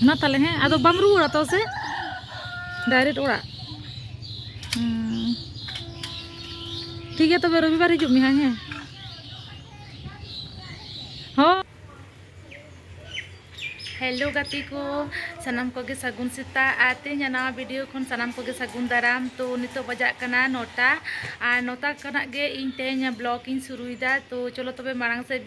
ᱢᱟ ᱛᱟᱦᱚᱞᱮ ᱦᱮᱸ ᱟᱫᱚ ᱵᱟᱢ ᱨᱩᱣᱟᱹᱲᱟ ᱛᱚ ᱥᱮ ᱰᱟᱭᱨᱮᱠᱴ ᱚᱲᱟᱜ ᱴᱷᱤᱠ ᱜᱮᱭᱟ ᱛᱚᱵᱮ ᱨᱚᱵᱤᱵᱟᱨ ᱦᱤᱡᱩᱜ ᱢᱮ ᱦᱮᱸ ᱦᱚᱸ ᱦᱮᱞᱳ ᱜᱟᱛᱮ ᱠᱚ ᱥᱟᱱᱟᱢ ᱠᱚᱜᱮ ᱥᱟᱹᱜᱩᱱ ᱥᱮᱛᱟᱜ ᱟᱨ ᱛᱮᱦᱮᱧᱟᱜ ᱱᱟᱣᱟ ᱵᱷᱤᱰᱤᱭᱳ ᱠᱷᱚᱱ ᱥᱟᱱᱟᱢ ᱠᱚᱜᱮ ᱥᱟᱹᱜᱩᱱ ᱫᱟᱨᱟᱢ ᱛᱚ ᱱᱤᱛᱚᱜ ᱵᱟᱡᱟᱜ ᱠᱟᱱᱟ ᱱᱚᱴᱟ ᱟᱨ ᱱᱚᱴᱟ ᱠᱷᱚᱱᱟᱜ ᱜᱮ ᱤᱧ ᱛᱮᱦᱮᱧ ᱵᱞᱚᱜ ᱤᱧ ᱥᱩᱨᱩᱭᱮᱫᱟ ᱛᱚ ᱪᱚᱞᱚ ᱛᱚᱵᱮ ᱢᱟᱲᱟᱝ ᱥᱮᱫ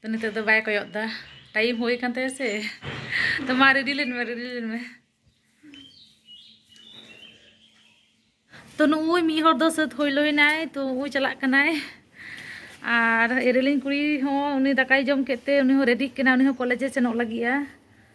ᱛᱚ ᱱᱤᱛᱚᱜ ᱫᱚ ᱵᱟᱭ ᱠᱚᱭᱚᱜ ᱫᱟ ᱴᱟᱭᱤᱢ ᱦᱩᱭ ᱠᱟᱱ ᱛᱟᱭᱟ ᱥᱮ ᱛᱚ ᱢᱟ ᱨᱮᱰᱤ ᱞᱮᱱ ᱢᱮ ᱨᱮᱰᱤ ᱞᱮᱱ ᱢᱮ ᱛᱚ ᱱᱩᱭ ᱢᱤᱫ ᱦᱚᱲ ᱫᱚ ᱥᱟᱹᱛ ᱦᱩᱭ ᱞᱚᱭᱱᱟᱭ ᱛᱚ ᱩᱱᱠᱩ ᱪᱟᱞᱟᱜ ᱠᱟᱱᱟᱭ ᱟᱨ ᱮᱨᱮᱞᱤᱧ ᱠᱩᱲᱤ ᱦᱚᱸ ᱩᱱᱤ ᱫᱟᱠᱟᱭ ᱡᱚᱢ ᱠᱮᱫ ᱛᱮ ᱩᱱᱤ ᱦᱚᱸ ᱨᱮᱰᱤᱜ ᱠᱟᱱᱟᱭ ᱩᱱᱤ ᱦᱚᱸ ᱠᱚᱞᱮᱡᱮ ᱥᱮᱱᱚᱜ ᱞᱟᱹᱜᱤᱫᱼᱟ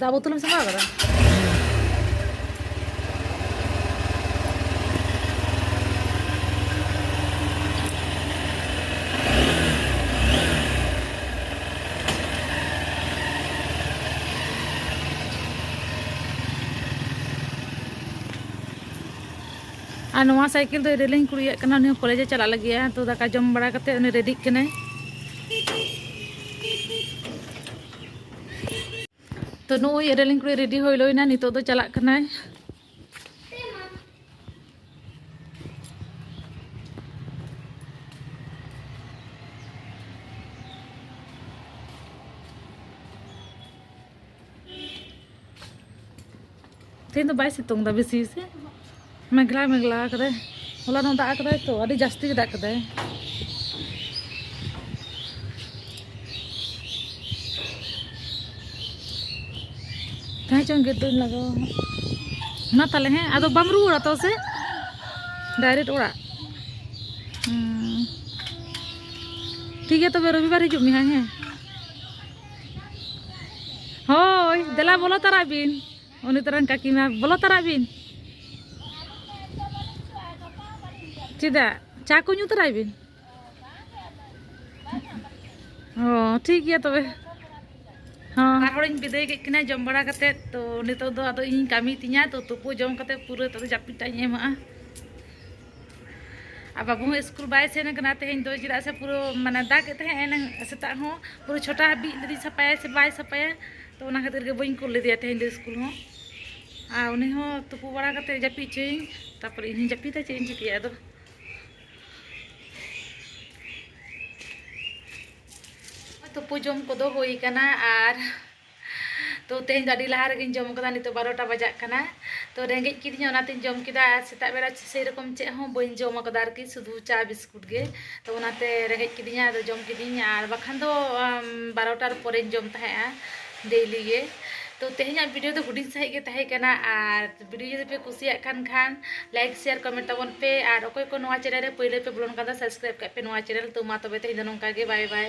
ᱫᱟᱜ ᱵᱳᱛᱚᱞ ᱮᱢ ᱥᱟᱢᱵᱟᱣ ᱠᱟᱫᱟ ᱟᱨ ᱱᱚᱣᱟ ᱥᱟᱭᱠᱮᱞ ᱫᱚ ᱨᱮᱞᱤᱧ ᱠᱩᱲᱤᱭᱟᱜ ᱠᱟᱱᱟ ᱩᱱᱤ ᱦᱚᱸ ᱠᱚᱞᱮᱡᱮ ᱪᱟᱞᱟᱜ ᱞᱟᱹᱜᱤᱫᱼᱟ ᱛᱚ ᱫᱟᱠᱟ ᱡᱚᱢ ᱵᱟᱲᱟ ᱠᱟᱛᱮᱫ ᱩᱱᱤ ᱨᱮᱰᱤᱜ ᱠᱟᱱᱟᱭ ᱛᱚ ᱱᱩᱭ ᱮᱨᱮᱞᱤᱧ ᱠᱩᱲᱤ ᱨᱮᱰᱤ ᱦᱩᱭ ᱞᱳᱭᱱᱟ ᱱᱤᱛᱚᱜ ᱫᱚ ᱪᱟᱞᱟᱜ ᱠᱟᱱᱟᱭ ᱛᱮᱦᱮᱧ ᱫᱚ ᱵᱟᱭ ᱥᱤᱛᱩᱝ ᱮᱫᱟ ᱵᱮᱥᱤ ᱥᱮ ᱢᱮᱜᱽᱞᱟ ᱢᱮᱜᱽᱞᱟ ᱠᱟᱫᱟᱭ ᱦᱚᱞᱟ ᱱᱚᱜ ᱫᱟᱜ ᱠᱟᱫᱟᱭ ᱛᱚ ᱟᱹᱰᱤ ᱡᱟᱹᱥᱛᱤ ᱜᱮ ᱫᱟᱜ ᱠᱟᱫᱟᱭ ᱛᱟᱦᱮᱸ ᱪᱚᱝ ᱜᱮ ᱫᱩᱧ ᱞᱟᱜᱟᱣᱟ ᱢᱟ ᱛᱟᱦᱞᱮ ᱦᱮᱸ ᱟᱫᱚ ᱵᱟᱢ ᱨᱩᱣᱟᱹᱲᱟ ᱛᱚ ᱥᱮ ᱰᱟᱭᱨᱮᱠᱴ ᱚᱲᱟᱜ ᱴᱷᱤᱠ ᱜᱮᱭᱟ ᱛᱚᱵᱮ ᱨᱚᱵᱤᱵᱟᱨ ᱦᱤᱡᱩᱜ ᱢᱮ ᱦᱟᱸᱜ ᱦᱮᱸ ᱦᱳᱭ ᱫᱮᱞᱟ ᱵᱚᱞᱚ ᱛᱟᱨᱟᱜ ᱵᱤᱱ ᱩᱱᱤ ᱛᱚᱨᱟᱱ ᱠᱟᱹᱠᱤᱢᱟ ᱵᱚᱞᱚ ᱛᱟᱨᱟᱜ ᱵᱤᱱ ᱪᱮᱫᱟᱜ ᱪᱟ ᱠᱚ ᱧᱩ ᱛᱟᱨᱟᱭ ᱵᱤᱱ ᱚ ᱴᱷᱤᱠ ᱜᱮᱭᱟ ᱛᱚᱵᱮ ᱦᱚᱸ ᱟᱨ ᱦᱚᱲᱤᱧ ᱵᱤᱫᱟᱹᱭ ᱠᱮᱫ ᱠᱤᱱᱟ ᱡᱚᱢ ᱵᱟᱲᱟ ᱠᱟᱛᱮᱫ ᱛᱚ ᱱᱤᱛᱚᱜ ᱫᱚ ᱟᱫᱚ ᱤᱧ ᱠᱟᱹᱢᱤ ᱛᱤᱧᱟ ᱛᱚ ᱛᱩᱯᱩ ᱡᱚᱢ ᱠᱟᱛᱮᱫ ᱯᱩᱨᱟᱹ ᱛᱚ ᱡᱟᱹᱯᱤᱫ ᱴᱟᱜ ᱤᱧ ᱮᱢᱟᱜᱼᱟ ᱟᱨ ᱵᱟᱹᱵᱩ ᱦᱚᱸ ᱥᱠᱩᱞ ᱵᱟᱭ ᱥᱮᱱ ᱠᱟᱱᱟ ᱛᱮᱦᱮᱧ ᱫᱚ ᱪᱮᱫᱟᱜ ᱥᱮ ᱯᱩᱨᱟᱹ ᱢᱟᱱᱮ ᱫᱟᱜᱮᱫ ᱛᱟᱦᱮᱸᱫ ᱮᱱᱟᱝ ᱥᱮᱛᱟᱜ ᱦᱚᱸ ᱯᱩᱨᱟᱹ ᱪᱷᱚᱴᱟ ᱦᱟᱹᱵᱤᱡ ᱞᱟᱹᱭᱫᱟᱹᱧ ᱥᱟᱯᱟᱭᱟᱭ ᱥᱮ ᱵᱟᱭ ᱥᱟᱯᱟᱭᱟ ᱛᱚ ᱚᱱᱟ ᱠᱷᱟᱹᱛᱤᱨ ᱜᱮ ᱵᱟᱹᱧ ᱠᱩᱞ ᱞᱮᱫᱮᱭᱟ ᱛᱮᱦᱮᱧ ᱫᱚ ᱥᱠᱩᱞ ᱦᱚᱸ ᱟᱨ ᱩᱱᱤ ᱦᱚᱸ ᱛᱩᱯᱩ ᱵᱟᱲᱟ ᱠᱟᱛᱮ ᱡᱟᱹᱯᱤᱫ ᱦᱚᱪᱚᱭᱤᱧ ᱛᱟᱨᱯᱚᱨᱮ ᱤᱧ ᱦᱚᱸᱧ ᱡᱟᱹᱯᱤᱫᱟ ᱪᱮᱫ ᱤᱧ ᱪᱤᱠᱟᱹᱭᱟ ᱟᱫᱚ ᱛᱩᱯᱩ ᱡᱚᱢ ᱠᱚᱫᱚ ᱦᱩᱭ ᱠᱟᱱᱟ ᱟᱨ ᱛᱚ ᱛᱮᱦᱮᱧ ᱫᱚ ᱟᱹᱰᱤ ᱞᱟᱦᱟ ᱨᱮᱜᱮᱧ ᱡᱚᱢ ᱠᱟᱫᱟ ᱱᱤᱛᱚᱜ ᱵᱟᱨᱚᱴᱟ ᱵᱟᱡᱟᱜ ᱠᱟᱱᱟ ᱛᱚ ᱨᱮᱸᱜᱮᱡ ᱠᱤᱫᱤᱧᱟ ᱚᱱᱟᱛᱮᱧ ᱡᱚᱢ ᱠᱮᱫᱟ ᱟᱨ ᱥᱮᱛᱟᱜ ᱵᱮᱲᱟ ᱥᱮᱭ ᱨᱚᱠᱚᱢ ᱪᱮᱫ ᱦᱚᱸ ᱵᱟᱹᱧ ᱡᱚᱢ ᱠᱟᱫᱟ ᱟᱨᱠᱤ ᱥᱩᱫᱷᱩ ᱪᱟ ᱵᱤᱥᱠᱩᱴ ᱜᱮ ᱛᱚ ᱚᱱᱟᱛᱮ ᱨᱮᱸᱜᱮᱡ ᱠᱤᱫᱤᱧᱟ ᱟᱫᱚ ᱡᱚᱢ ᱠᱤᱫᱤᱧ ᱟᱨ ᱵᱟᱠᱷᱟᱱ ᱫᱚ ᱵᱟᱨᱚᱴᱟᱨ ᱯᱚᱨᱮᱧ ᱡᱚᱢ ᱛᱟᱦᱮᱸᱜᱼᱟ ᱰᱮᱭᱞᱤ ᱜᱮ ᱛᱚ ᱛᱮᱦᱮᱧᱟᱜ ᱵᱷᱤᱰᱤᱭᱳ ᱫᱚ ᱦᱩᱰᱤᱧ ᱥᱟᱺᱦᱤᱡ ᱜᱮ ᱛᱟᱦᱮᱸ ᱠᱟᱱᱟ ᱟᱨ ᱵᱷᱤᱰᱤᱭᱳ ᱡᱩᱫᱤ ᱯᱮ ᱠᱩᱥᱤᱭᱟᱜ ᱠᱟᱱ ᱠᱷᱟᱱ ᱞᱟᱭᱤᱠ ᱥᱮᱭᱟᱨ ᱠᱚᱢᱮᱱᱴ ᱛᱟᱵᱚᱱ ᱯᱮ ᱟᱨ ᱚᱠᱚᱭ ᱠᱚ ᱱᱚᱣᱟ ᱪᱮᱱᱮᱞ ᱨᱮ ᱯᱳᱭᱞᱳ ᱯᱮ ᱵᱚᱞᱚᱱ ᱠᱟᱱ ᱫᱚ ᱥᱟᱵᱥᱠᱨᱟᱭᱤᱵ ᱠᱟᱜ ᱯᱮ ᱱᱚᱣᱟ ᱪᱮᱱᱮᱞ ᱛᱚ ᱢᱟ ᱛᱚᱵᱮ ᱛᱮᱦᱮᱧ ᱫᱚ ᱱᱚᱝᱠᱟ ᱜᱮ ᱵᱟᱭ ᱵᱟᱭ